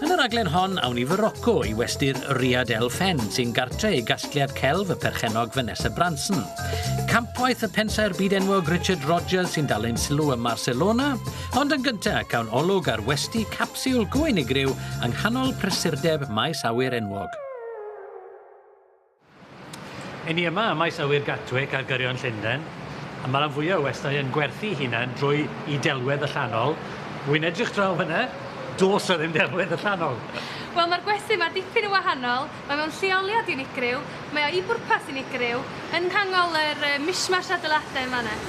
Yn y raglen hon, awn i fy roco i westy'r Riad El Fen, sy'n gartre i gasgliad celf y perchennog Vanessa Branson. Campwaith y pensaer byd enwog Richard Rogers sy'n dal ein sylw ym Barcelona, ond yn gyntaf cawn olwg ar westi capsiwl go unigryw yng nghanol prysurdeb maes awyr enwog. Yn ni yma ym maes awyr Gatwick ar gyrion Llundain, a mae rhan fwyaf o westai yn gwerthu'i hunain drwy i delwedd allanol. Wi'n edrych draw fanna, does 'na ddim delwedd allanol. Wel, mae'r gwesty yma dipyn yn wahanol, mae mewn lleoliad unigryw, mae o i bwrpas unigryw, yn nghanol yr mishmash adeiladau yn fanna.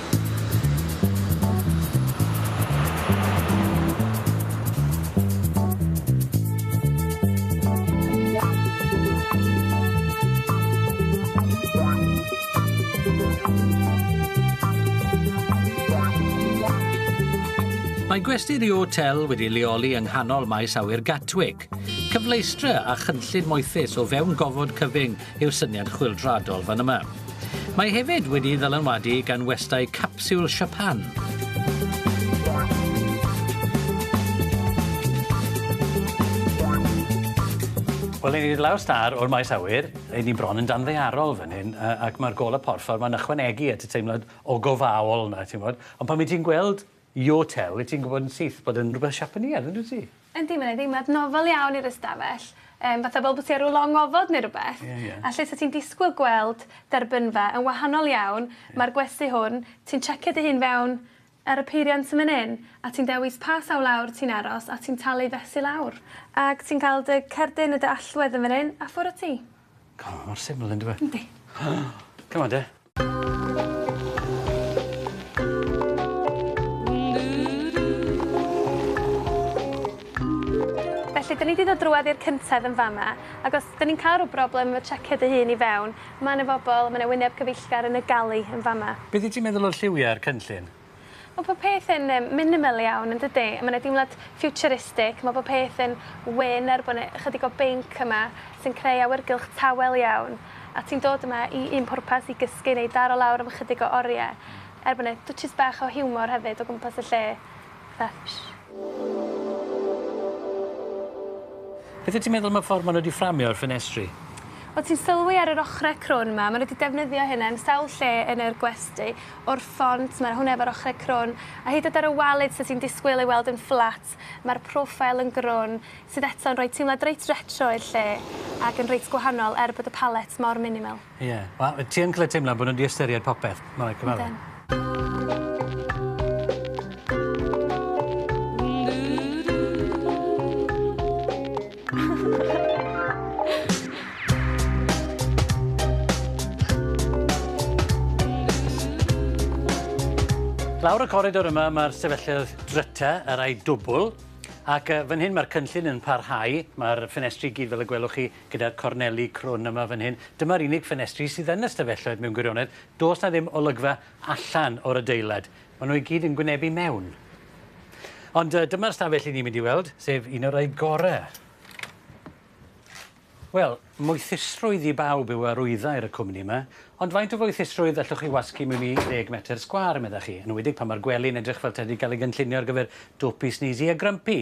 Mae gwesty The Hotel wedi leoli yng nghanol maes awyr Gatwick. Cyfleustre a chynllun moethus o fewn gofod cyfyng yw'r syniad chwyldroadol fan yma. Mae hefyd wedi ddylanwadu gan westai capsiwl Siapan. Wel, ni wedi lawr star o'r maes awyr, ei ni bron yn danddearol fan hyn, ac mae'r golau porffor mae'n ychwanegu at y teimlad o gofaol na, ti'n bod. Ond pan mae ti'n gweld Yotel, wyt ti'n gwybod yn syth bod yn rhywbeth Siapaneaidd, yn dwyt ti? Yndi, mae'n ei ddeimlad nofel iawn i'r ystafell, um, fatha fel bod ti ar ôl long ofod neu rhywbeth. Yeah, yeah. A lle sa ti'n disgwyl gweld derbynfa yn wahanol iawn, yeah. mae'r gwesti hwn, ti'n checio dy hun fewn ar y peiriant yn mynd hyn, a ti'n dewis pa sawl lawr ti'n aros a ti'n talu fesu lawr. Ac ti'n cael dy cerdyn y dy allwedd yn fan hyn, a ffwr o ti. Come on, mor syml yn dweud. Yndi. Come on, de. Felly, dyn ni 'di dod drwad i'r cyntedd yn fama, ac os dyn ni'n cael rhyw broblem efo tsiecio dy hun i fewn, ma' 'na bobl, ma' 'na wyneb cyfeillgar yn y gali yn fama. Be' 'di ti'n meddwl o'r lliwiau a'r cynllun? Ma' pob peth yn yym minimal iawn yndydi? A ma' 'na deimlad ffiwturistig, ma' pob peth yn wyn er bo' 'ne ychydig o binc yma sy'n creu awyrgylch tawel iawn. A ti'n dod yma i un pwrpas, i gysgu neu daro lawr am ychydig o orie. Er bo' 'ne dwtshys bach o hiwmor hefyd o gwmpas y lle. Fatha ffish. Beth wyt ti'n meddwl am y ffordd ma' nhw 'di fframio yr ffenestri? Wel ti'n sylwi ar yr ochre crwn 'ma, ma' nhw 'di defnyddio hyn yn sawl lle yn yr gwesty. o'r ffont, mae'r hwn efo'r ochrau crwn, a hyd at ar y walid sydd ti'n disgwyl ei weld yn fflat, mae'r profile yn grwn, sydd eto yn rhoi teimlad reit retro i'r lle, ac yn reit gwahanol er bod y palette mor minimal. Ie, wel, ti yn gallu teimlo bod nhw 'di ystyried popeth, mae'n rhaid cyfaddau. Ydyn. Lawr y coridor yma mae'r sefylledd dryta, y rai dwbl, ac uh, fan hyn mae'r cynllun yn parhau. Mae'r ffenestri gyd fel y gwelwch chi gyda'r corneli crwn yma fan hyn. Dyma'r unig ffenestri sydd yn y stafelloedd mewn gwirionedd. Does na ddim olygfa allan o'r adeilad. Maen nhw i gyd yn gwynebu mewn. Ond uh, dyma'r stafell i ni'n mynd i weld, sef un o'r rhaid gorau. Wel, moethusrwydd i bawb yw arwyddau'r y cwmni yma, ond faint o foethusrwydd allwch chi wasgu mewn i 10 metr sgwar, meddach chi, yn wedi pan mae'r gwely'n edrych fel tedi cael ei gynllunio ar gyfer dwpi, sneezy a grumpy.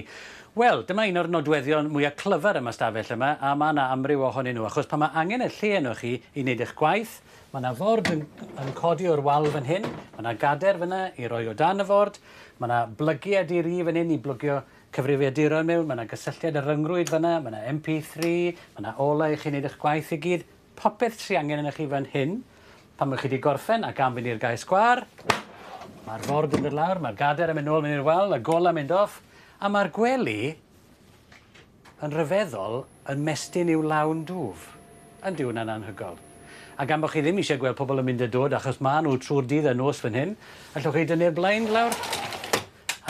Wel, dyma un o'r nodweddion mwyaf clyfar yma stafell yma, a mae yna amryw ohonyn nhw, achos pan mae angen y lle yno chi i wneud eich gwaith, Ma' 'na ford yn yn codi o'r wal fan hyn, ma' 'na gader fynna i roi o dan y ford, ma' 'na blygie a di ri fan hyn i blygio cyfrifiaduron mewn, ma' 'na gysylltiad y ryngrwyd fynna, ma' 'na MP3, ma' 'na olau i chi neud ych gwaith i gyd, popeth sy angen ynoch chi fan hyn. Pan ma' chi 'di gorffen ac am fynd i'r gae sgwâr, ma'r ford yn dod lawr, ma'r gader yn mynd nôl fyny i'r wal, y gola mynd off, a ma'r gwely Yn rhyfeddol, yn mestyn i'w lawn dwf. Yn dyw hwnna'n anhygoel. A gan bod chi ddim eisiau gweld pobl yn mynd a dod achos maen nhw trwy'r dydd a nos fan hyn, allwch chi dynnu'r blaen lawr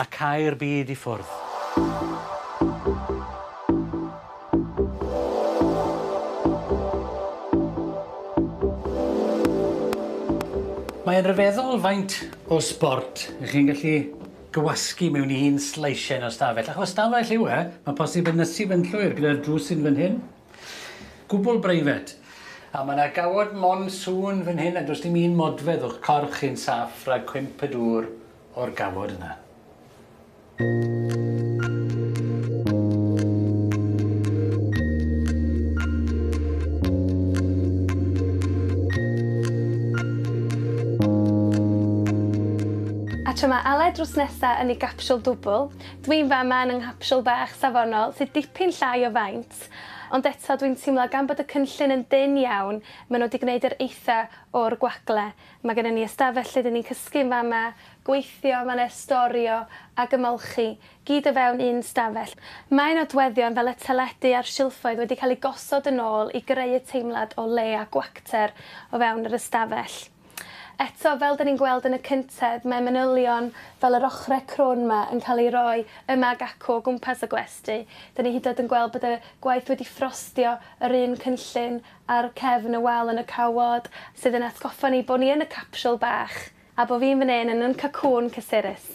a cau'r byd i ffwrdd. Mae'n rhyfeddol faint o sbort 'y chi'n gallu gywasgu mewn un sleisien o'r stafell, achos stafell yw e, mae'n posib yn nysu fe'n llwyr gyda'r drws sy'n fan hyn, gwbl breifat, a mae 'na gawod monsŵn fan hyn a does dim un modfedd o'ch corff chi'n saff rhag cwymp y dŵr o'r gawod yna. A tra mae Aled drws nesa yn ei gapsiwl dwbl, dwi'n fama yn 'y nghapsiwl bach safonol sydd dipyn llai o faint, ond eto dwi'n teimlo gan bod y cynllun yn dynn iawn, maen nhw 'di gwneud yr eitha' o'r gwagle. Mae gennym ni ystafell lle 'dyn ni'n cysgu yn fama, gweithio, mae 'na storio ac ymolchi, gyd o fewn un stafell. Mae nodweddion fel y teledu a'r silffoedd wedi cael eu gosod yn ôl i greu y teimlad o le a gwacter o fewn yr ystafell. Eto, fel 'da ni'n gweld yn y cyntedd, mae manylion fel yr ochrau crwn 'ma yn cael eu rhoi yma ac acw o gwmpas y gwesty. 'Da ni hyd yn oed yn gweld bod y gwaith wedi ffrostio yr un cynllun ar cefn y wal yn y cawod, sydd yn atgoffa ni bod ni yn y capsiwl bach, a bod fi'n fan hyn yn yn cacŵn cysurus.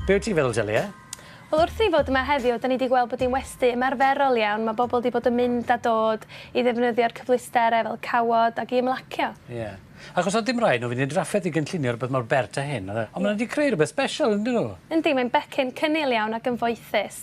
Be wyt ti'n feddwl, Delia? Wel, wrth i fod yma heddiw, da ni wedi gweld bod hi'n westy ymarferol iawn. Mae bobl wedi bod yn mynd a dod i ddefnyddio'r cyfleusterau fel cawod ac i ymlacio. Ie. Yeah. Achos oedd dim rhaid nhw fynd i'r drafferth i gynllunio rhywbeth mor bert a hyn. Ond maen nhw wedi creu rhywbeth special, yn dyn nhw? Yndi, mae'n becyn cynnil iawn ac yn foethus.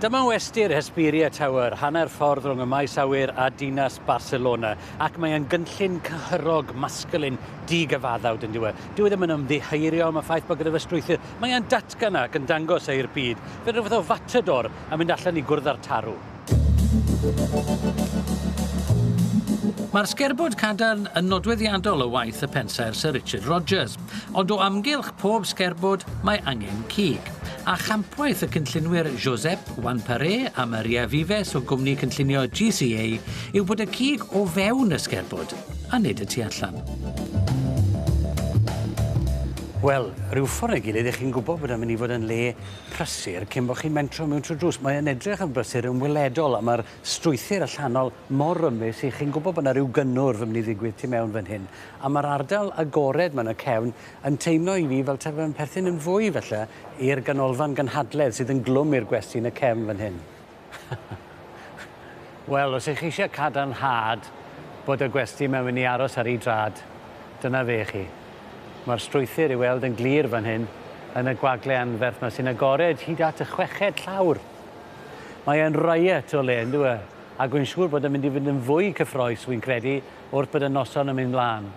Dyma westy'r Hesperia Tower, hanner ffordd rhwng y maes awyr a dinas Barcelona, ac mae e'n gynllun cyhyrog, masculine, di-gyfaddawd yn dyw e. Dyw e ddim yn ymddiheurio am y ffaith bod gyda fe strwythur, mae e'n datgan ac yn dangos e i'r byd, fel rhywbeth o fatador yn mynd allan i gwrdd â'r tarw. Mae'r sgerbwd cadarn yn nodweddiadol o waith y pensaer Sir Richard Rogers. Ond o amgylch pob sgerbwd mae angen cig, a champwaith y cynllunwyr Josep Wanparé a Maria Vives o gwmni cynllunio GCA yw bod y cig o fewn y sgerbwd, a nid y tu allan. Wel, rhyw ffordd neu gilydd, ych chi'n gwybod bod e'n mynd i fod yn le prysur cyn bod chi'n mentro mewn trwy drws. Mae'n edrych yn brysur yn weledol, a mae'r strwythur allanol mor rymus i chi'n gwybod bod yna rhyw gynnwrf yn mynd i ddigwydd tu mewn fan hyn. A mae'r ardal agored 'ma yn y cefn yn teimlo i fi fel taw fe'n perthyn yn fwy, falle, i'r ganolfan gynhadledd sydd yn glwm i'r gwesty yn y cefn fan hyn. Wel, os 'y chi eisiau cadarnhad bod y gwesty 'ma'n mynd i aros ar ei drad, dyna fe i chi. Mae'r strwythur i'w weld yn glir fan hyn, yn y gwagle anferth 'ma sy'n agored hyd at y chweched llawr. Mae e'n riot o le, yndyw e? Ac wy'n siŵr bod e'n mynd i fynd yn fwy cyffrous, wi'n credu, wrth bod y noson yn mynd mlaen.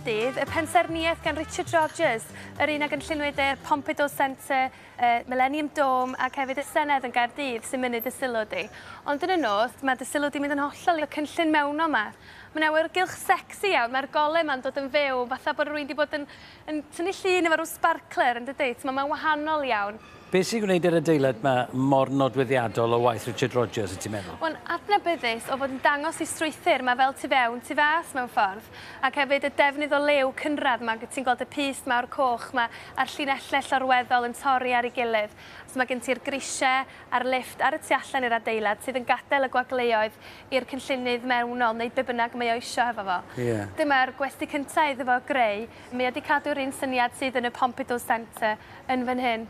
Gaerdydd, y pensaernïaeth gan Richard Rogers, yr un a gynlluniwyd â'r Pompidou Centre y Millennium Dome ac hefyd y Senedd yn Gaerdydd sy'n mynnu dy sylw di. Ond yn y nos, mae dy sylw di'n mynd yn hollol i'r cynllun mewnol 'ma. Mae'n awyrgylch secsi iawn, mae'r golau 'ma'n dod yn fyw, fatha bod rywun 'di bod yn yn tynnu llun efo rhyw sbarcler, yn dydi? T'mo', mae'n wahanol iawn. Be' sy'n gwneud yr adeilad 'ma mor nodweddiadol o waith Richard Rogers, wyt ti'n meddwl? Mae'n adnabyddus o fod yn dangos ei strwythur, mae fel tu fewn, tu fas mewn ffordd. Ac hefyd y defnydd o liw cynradd 'ma, ti'n gweld y pyst mawr coch 'ma, a'r llinellau llorweddol yn torri ar ei gilydd. So mae gen ti'r grisiau a'r lifft ar y tu allan i'r adeilad sydd yn gadael y gwagleuoedd i'r cynllunydd mewnol wneud be bynnag mae o isio hefo fo. Ie. Dyma'r gwesty cynta iddo fo greu. Mae o 'di cadw'r un syniad sydd yn y Pompidou Centre yn fan hyn.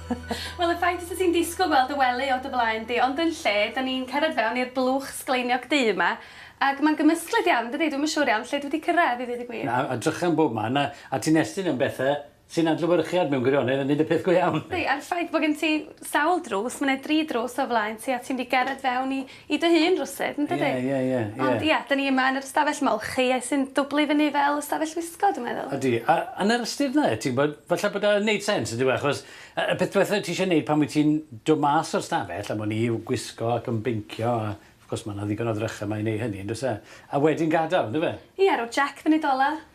Wel y ffaith fysa ti'n disgwyl gweld dy wely o dy flaen di ond yn lle 'da ni'n cerdded fewn i'r blwch sgleiniog du 'ma ac ma'n gymysglyd iawn yndydi dwi'm yn siŵr iawn lle dwi 'di cyrraedd i ddeud y gwir. Na a 'drychan bob man a a ti'n estyn am bethe sy'n adlewyrchiad mewn gwirionedd yn neud y peth go iawn. Yndi a'r ffaith bo' gen ti sawl drws ma' 'ne dri drws o flaen ti a ti'n mynd i gerdded fewn i i dy hun rywsut yndydi? Ie ie ie ie. Ond ia 'dyn ni yma yn yr ystafell ma' Olchie sy'n dwbli fyny fel ystafell wisgo dwi meddwl. Ydi a yn yr ystyr 'na ti'n gwbod falle bod e yn neud sense on'd yw e achos yy y peth dwetha ti isie neud pan wyt ti'n do' mas o'r stafell am wn i yw gwisgo ac yn beincio a wrth gwrs ma' 'na ddigon o ddrycha 'ma i neu' hynny on'd o's e? A wedyn gadal on'd yfe? Ie roi Jac fyny dola.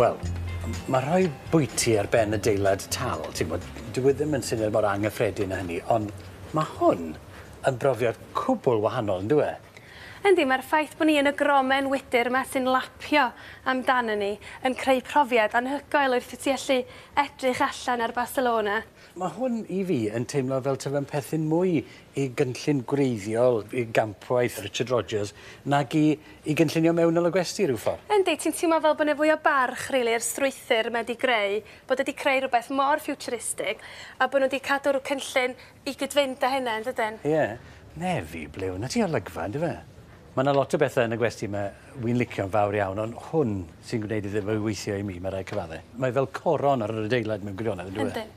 Wel, m- ma' rhoi bwyty ar ben adeilad tal, ti'n gwbod, dyw e ddim yn syniad mor angyffredin â hynny, ond ma' hwn yn brofiad cwbwl wahanol, yndyw e? Yndi, mae'r ffaith bod ni yn y gromen wydr yma sy'n lapio amdanon ni yn creu profiad anhygoel wrth i ti allu edrych allan ar Barcelona. Mae hwn i fi yn teimlo fel taw fe'n perthyn mwy i gynllun gwreiddiol i gampwaith Richard Rogers nag i i gynllunio mewnol y gwesty, rhyw ffordd. Yndi, ti'n teimlo fel bod 'na fwy o barch, rili, i'r strwythur mae 'di greu, bod e 'di creu rhywbeth mor ffiwturistig, a bod nhw 'di cadw'r cynllun I gyd-fynd â hynna, yndydyn? Ie. Nefi, ble wnât ti olygfa, yndyfe? Mae 'na lot o bethe yn y gwesty 'ma wi'n licio'n fawr iawn, ond hwn sy'n gwneud iddo fe weithio i mi, mae rhaid cyfadde. Mae fel coron ar yr adeilad mewn gwirionedd, yndyw e? Yndyn.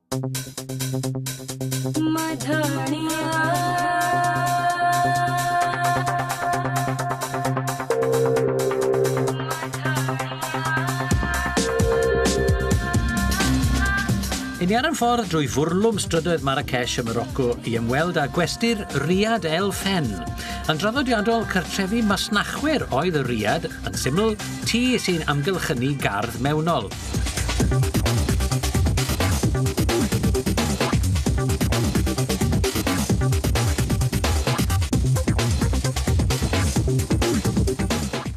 Ni ar yn ffordd drwy fwrlwm strydoedd Marrakesh ym Morocco i ymweld â gwesty'r Riad El Fen. Yn draddodiadol, cartrefi masnachwyr oedd y Riad, yn syml, tŷ sy'n amgylchynu gardd mewnol.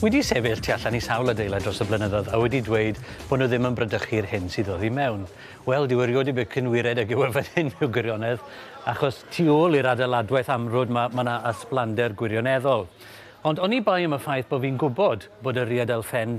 Wedi sefyll tu allan i sawl adeilad dros y blynyddoedd a wedi dweud bod nhw ddim yn bradychu'r hyn sydd oddi mewn. Wel, dyw erioed i becyn wired ag yw e fan hyn mewn gwirionedd, achos tu ôl i'r adeiladwaith amrwd mae yna ysblander gwirioneddol. Ond oni bai am y ffaith bod fi'n gwybod bod y rhyad elfen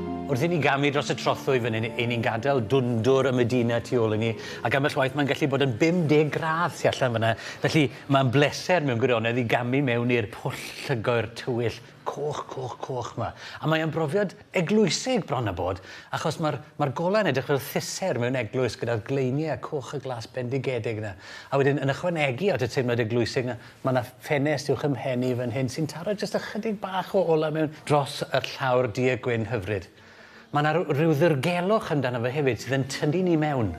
Wrth i ni gamu dros y trothwy fan hyn, 'yn ni'n gadael dwndwr y Medina tu ôl i ni, ac ambell waith mae'n gallu bod yn 50 gradd tu allan fan'na, felly mae'n bleser mewn gwirionedd i gamu mewn i'r pwll llygoer tywyll coch, coch, coch 'ma. A mae o'n brofiad eglwysig bron a bod, achos mae'r mae'r golau'n edrych fel thusser mewn eglwys gyda'r gleiniau coch a glas bendigedig 'na, a wedyn yn ychwanegu at y teimlad eglwysig 'na, Mae 'na ffenest uwch 'y mhen i fan hyn sy'n taro jyst ychydig bach o olau mewn dros y llawr duedd gwyn hyfryd. Mae 'na ryw, ryw ddirgelwch amdano fe hefyd sydd yn tynnu ni mewn.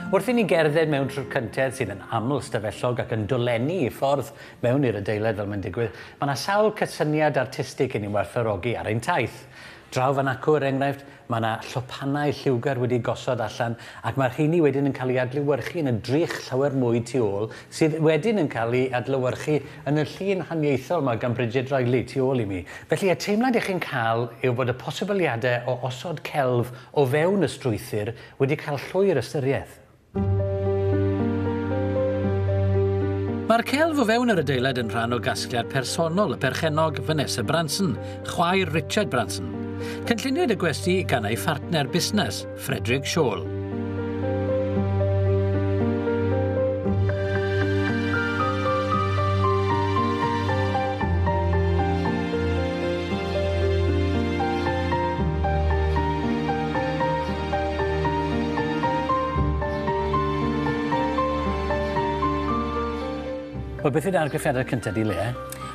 Wrth i ni gerdded mewn trwy'r cyntedd sydd yn aml ystafellog ac yn dolenni i ffordd mewn i'r adeilad fel mae'n digwydd, mae 'na sawl cysyniad artistig i ni'n werthfawrogi ar ein taith. Draw fan acw, er enghraifft, mae 'na lwpanau lliwgar wedi'u gosod allan ac mae'r rheiny wedyn yn cael eu adlewyrchu yn y drych llawer mwy tu ôl sydd wedyn yn cael eu adlewyrchu yn y llun haniaethol 'ma gan Bridget Riley tu ôl i mi. Felly, y teimlad 'ych chi'n cael yw bod y posibiliadau o osod celf o fewn y strwythur wedi cael llwyr ystyriaeth. Mae'r celf o fewn yr adeilad yn rhan o gasgliad personol y perchennog Vanessa Branson, chwaer Richard Branson. Cynlluniwyd y gwesty gan ei phartner busnes, Frederick Shawl. Wel beth yw'r argraffiadau cyntaf di Leah?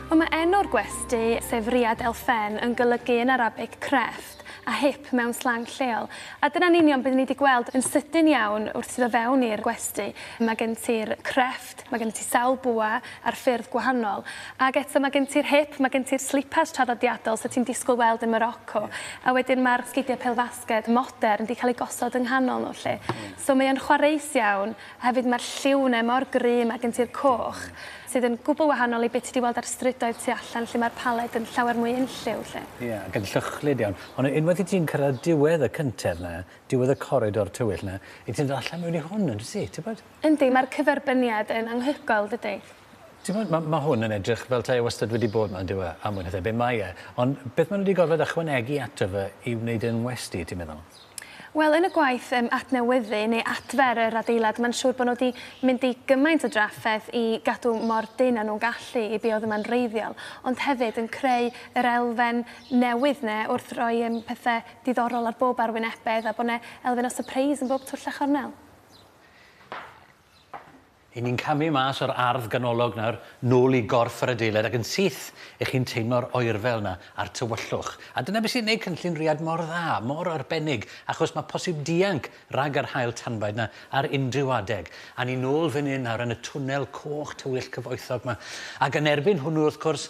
Wel mae enw'r gwesty, sef Riad El Fen, yn golygu yn Arabic crefft a hip mewn slang lleol. A dyna'n union beth ni wedi gweld yn sydyn iawn wrth iddo fewn i'r gwesty. Mae gen ti'r crefft Mae gen ti sawl bwa ar ffyrdd gwahanol. Ac eto mae gen ti'r hip, mae gen ti'r slipas traddodiadol 'set ti'n disgwyl weld yn Moroco. A wedyn mae'r sgidiau pêl-fasged modern 'di cael eu gosod yng nghanol nhw 'lly. So mae o'n chwareus iawn, a hefyd mae'r lliw yna mor gry, mae gen ti'r coch, sydd yn gwbl wahanol i be' ti 'di weld ar strydoedd tu allan lle mae'r paled yn llawer mwy unlliw 'lly. Ie, ac yn lluchlyd iawn. Ond unwaith i ti'n cyrraedd diwedd y cyntedd 'na, diwedd y coridor tywyll 'na, 'yt ti'n dod allan mewn i hwn, yn dwyt ti, tybed? Yndi, mae'r cyferbyniad yn anghyhoel, dydi? Timod, ma- ma' hwn yn edrych fel 'ta e wastad wedi bod 'ma, yndyw e? A mwy na thebyg mae e. Ond beth maen nhw wedi gorfod ychwanegu ato fe i wneud e'n westy, ti'n meddwl? Wel, yn y gwaith yym adnewyddu neu adfer yr adeilad, mae'n siŵr bod nhw wedi mynd i gymaint o drafferth i gadw mor dynn â nhw'n gallu i be oedd yma'n wreiddiol, ond hefyd yn creu yr elfen newydd 'na wrth roi yym pethe diddorol ar bob arwynebedd a bod 'na elfen o sypreis yn bob twll a chornel. 'Yn ni'n camu mas o'r ardd ganolog nawr, nôl i gorff yr adeilad, ac yn syth, 'ych chi'n teimlo'r oerfel 'na a'r tywyllwch. A dyna beth sy'n neud cynllun Rhiad mor dda, mor arbennig, achos ma' posib dianc rhag yr haul tanbaid 'na ar unrhyw adeg. A ni nôl fyn 'yn nawr yn y twnnel coch tywyll cyfoethog 'ma. Ac yn erbyn hwnnw, wrth cwrs,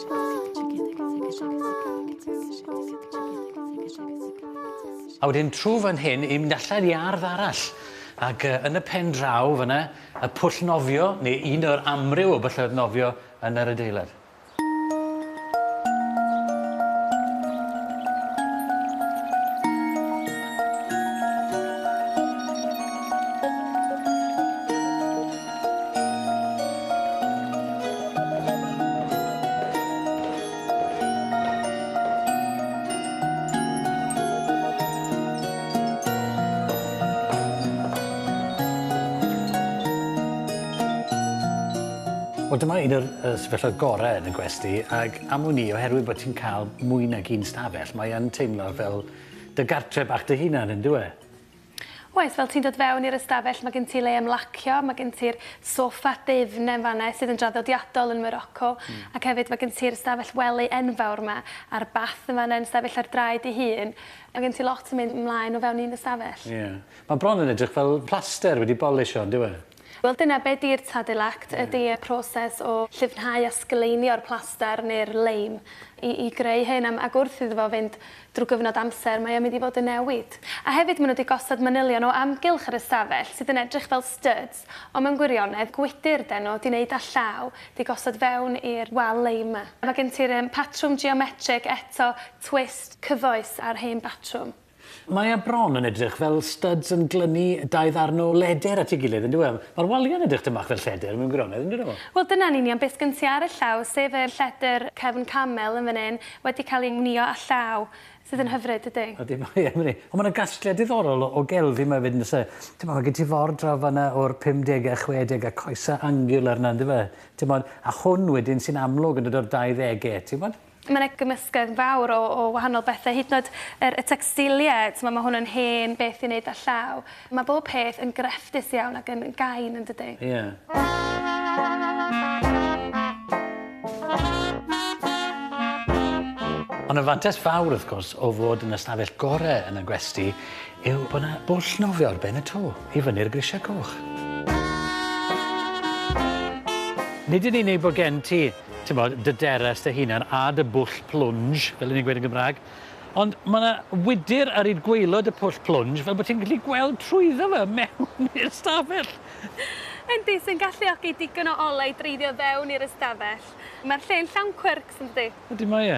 A wedyn trw fan hyn i mynd allan i ardd arall ac yy yn y pen draw fyn 'na y pwll nofio neu un o'r amryw o bylloedd nofio yn yr adeilad. Wel dyma un o'r yy sefyllfa gore yn y gwesty ag am wn i oherwydd bod ti'n cael mwy nag un stafell mae yn teimlo fel dy gartre bach dy hunan yndyw e? Oes, fel ti'n dod fewn i'r ystafell mae gen ti le ymlacio, mae gen ti'r soffa dwfn yn fan 'na sydd yn draddodiadol yn Moroco ac hefyd mae gen ti'r ystafell wely enfawr 'ma a'r bath yn fan 'na yn sefyll ar draed ei hun. Mae gen ti lot yn mynd ymlaen o fewn un ystafell. Ie. Mae bron yn edrych fel plaster wedi bolisio, yndyw e? Wel dyna be di'r Tadil Act, ydi y proses o llifnhau a sgleinio'r plaster neu'r leim i i greu hyn am ac wrth iddo fo fynd drwy gyfnod amser mae o'n mynd i fod yn newid. A hefyd ma' nhw di gosod manylion o amgylch yr ystafell sydd yn edrych fel styds ond mewn gwirionedd gwydyr den nhw di neud â llaw di gosod fewn i'r wal leim ma. Ma' gen ti'r yym patrwm geometrig eto twist cyfoes ar hen batrwm. Mae e bron yn edrych fel studs yn glynu dau ddarn o leder at ei gilydd, yndyw e? Mae'r waliau'n edrych tym bach fel lledr mewn gwirionedd, yn dydyn nhw? Wel, dyna'n union beth sgen ti ar y llaw, sef yr lledr cefn camel yn fan hyn, wedi cael ei wnïo â llaw, sydd yn hyfryd, dydi? Ydy, mae e, mae e. Ond mae yna gasgliad diddorol o gelfi yma hefyd, yn does e? Timod, mae gen ti ford draw fan'na o'r 50au a 60au, coesau angular 'na, yndyfe? Timod, a hwn wedyn sy'n amlwg yn dod o'r 20au, ti'n gwybod? Mae 'na gymysgedd fawr o o wahanol bethe hyd yn o'd yr y tecstilie t'mo' ma' hwn yn hen beth i neud â llaw. Ma' bob peth yn grefftus iawn ac yn yn gain yndydi? Ie. Ond y fantes fawr wrth gwrs o fod yn y stafell gore yn y gwesty yw bo' 'na bwll nofio ar ben y to i fyny'r grisia coch. Nid yn unig bo' gen ti ti'n gwybod, dy deres dy hunan a dy bwll plunge, fel 'yn ni'n gweud yn Gymraeg. Ond mae 'na wydr ar hyd gwaelod y pwll plunge fel bod ti'n gallu gweld trwyddo fe mewn i'r ystafell! Yndi, sy'n galluogi digon o olau i dreiddio fewn i'r ystafell. Mae'r lle'n llawn cwyrcs, yn dydi? Ydi, mae e.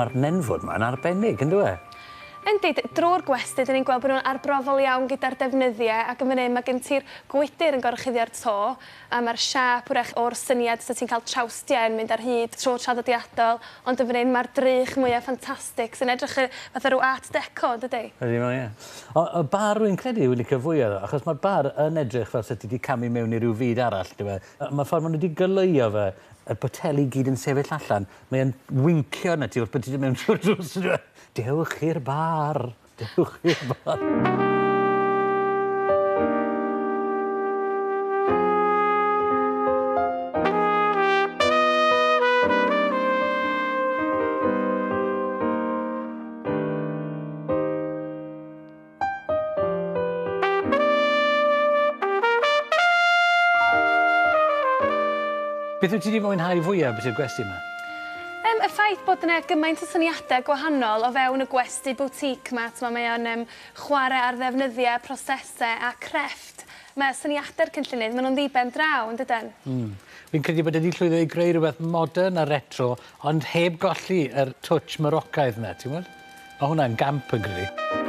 Mae'r nenfwd mae'n arbennig, yn dweud? Yndi, drwy'r gwesty, dyn ni'n gweld bod nhw'n arbrofol iawn gyda'r defnyddiau ac yn fan hyn mae gen ti'r gwydr yn gorchuddio'r to a mae'r siâp wrach o'r syniad sut ti'n cael trawstiau yn mynd ar hyd tro traddodiadol, ond yn fan hyn mae'r drych mwyaf ffantastig sy'n edrych y fatha rhyw art deco, yn dydi? Ydy mae o, ie. Ond y bar rwy'n credu yw licio fwya iddo, achos mae'r bar yn edrych fel 'set ti 'di camu mewn i ryw fyd arall, dyw e? A mae'r ffordd maen nhw 'di goleuo fe, y poteli i gyd yn sefyll allan, mae e'n wincio arnat ti wrth bod ti 'di mynd trwy'r drws, yndyw e? Dewch i'r bar! Dewch i'r bar. Beth wyt ti wedi mwynhau fwyaf beth yw'r gwesti yma? Um, y ffaith bod yna gymaint o syniadau gwahanol o fewn y gwesti Sti boutique ma t'mo mae o'n yym chware ar ddefnyddia prosese a crefft ma' syniade'r cynllunydd ma' nw'n ddiben draw yndyden? Hmm. Fi'n credu bod e 'di llwyddo i greu rwbeth modern a retro ond heb golli yr twtsh Morocaidd 'na ti'n w'od? Ma' hwnna'n gamp fi'n credu.